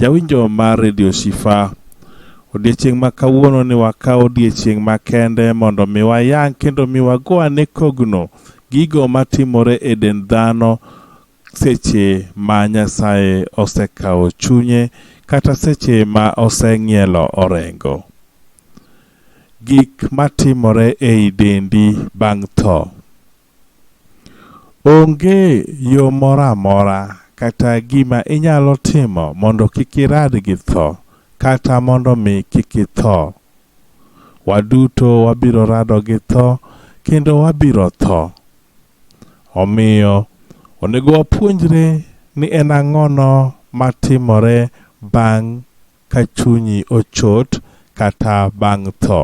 Jawinjo mar Radio Shifa, odiechieng' ma kawuono ni wakaw odiechieng' makende mondo mi wayang kendo mi wago ane kogno gigo matimore e dend dhano seche ma Nyasaye osekawo chunye kata seche ma oseng'ielo orengo. Gik matimore ei dendi bang' tho. Onge yo moro amora kata gima inyalo timo mondo kik irad gi tho, kata mondo mi kik itho. Waduto wabiro rado gi tho kendo wabiro tho. Omiyo, onego wapuonjre ni en ang'ono matimore bang' ka chunyi ochot kata bang' tho.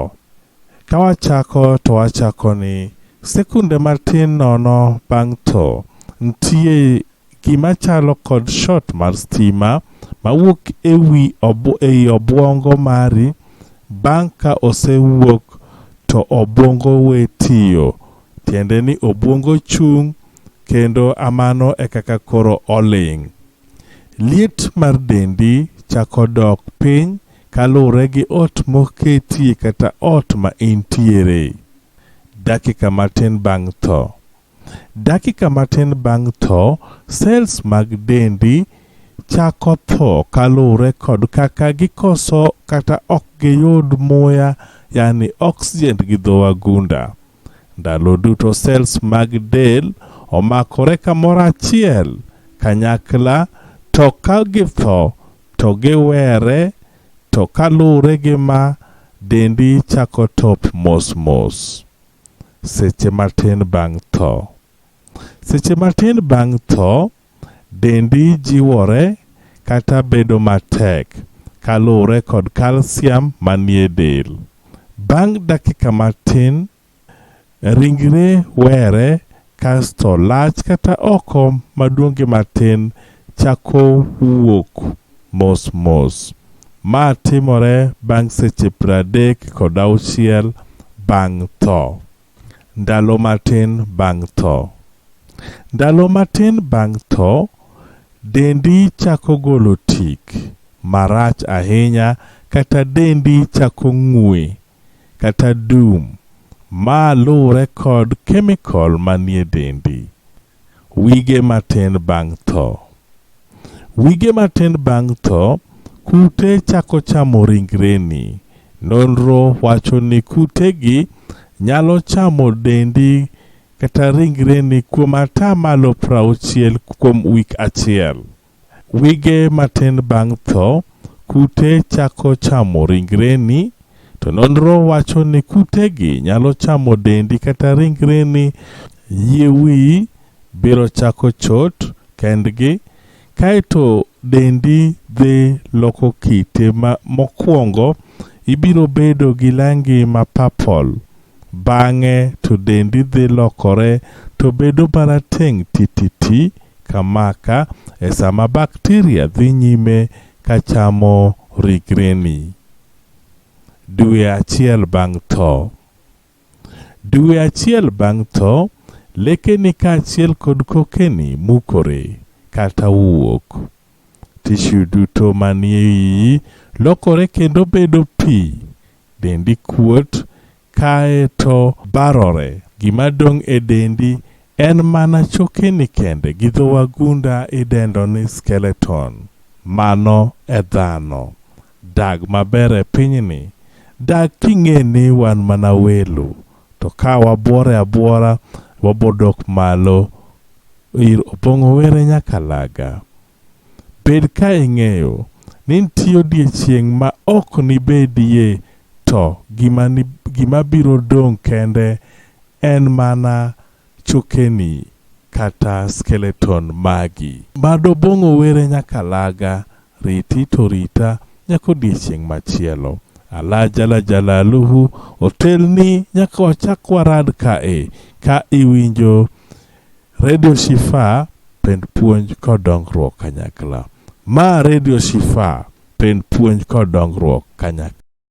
Ka wachako to wachako ni, sekunde matin nono bang' tho, nitie gima chalo kod shot mar stima mawuok ewi ei obuongo mari bang' ka osewuok to obuongo we tiyo. Tiende ni obuongo chung' kendo amano ekaka koro oling'. Liet mar dendi chako dok piny kaluwore gi ot moketie kata ot ma intiere. Dakika matin bang' tho. Dakika matin bang' tho, sels mag dendi chako tho kaluwore kod kaka gikoso kata ok giyud muya yani oxygen gi dho wagunda. Ndalo duto cells mag del omakore kamoro achiel kanyakla to ka githo to giwere to kaluwre gi ma dendi chako top mos mos seche matin bang' tho. Seche matin bang' tho Dendi jiwore kata bedo matek kaluwre kod kalsiam manie del. Bang' dakika matin, ringre were kasto lach kata oko maduong' gi matin chako wuok mos mos. Ma timore bang' seche pradek kod auchiel bang' tho. Ndalo matin bang' tho. Ndalo matin bang' tho, dendi chako golo tik marach ahinya kata dendi chako ng'ue kata dum. Ma luwre kod kemikol manie dendi. Wige matin bang' tho. Wige matin bang' tho, kute chako chamo ringreni. Nonro wacho ni kutegi nyalo chamo dendi kata ringreni kuom ata malo 60 kuom wik achiel. Wige matin bang' tho, kute chako chamo ringreni, to nonro wacho ni kutegi nyalo chamo dendi kata ringreni. Yie wiyi biro chako chot kendgi, kae to dendi dhi loko kite. Mokwongo, ibiro bedo gi langi ma purple, Bang'e to dendi dhi lokore to bedo marateng' tititi ka maka e sama bakteria dhi nyime ka chamo rigreni. Dwe achiel bang' tho. Dwe achiel bang' tho, lekeni kaachiel kod kokeni mukore kata wuok. Tishu duto manie iyi lokore kendo bedo pi Dendi kuot, kae to barore. Gima dong' e dendi en mana chokeni kende gi dho wagunda idendo ni skeleton. Mano e dhano. Dag maber e pinyni, dag king'e ni wan mana welo, to ka wabuore abuora, wabodok malo ir Opong'o Were Nyakalaga. Bed ka ing'eyo ni nitie odiechieng' ma ok nibedie to gima biro dong' kende en mana chokeni kata skeleton magi. Bad Obong'o were Nyakalaga, Riti to rita nyaka odiechieng' machielo. Ala jala jalaluhu, otelni nyaka wachak warad kae ka iwinjo Radio Shifa pend puonj kod dongruok kanyakla. Ma Radio Shifa pend puonj kod dongruok kanyakla.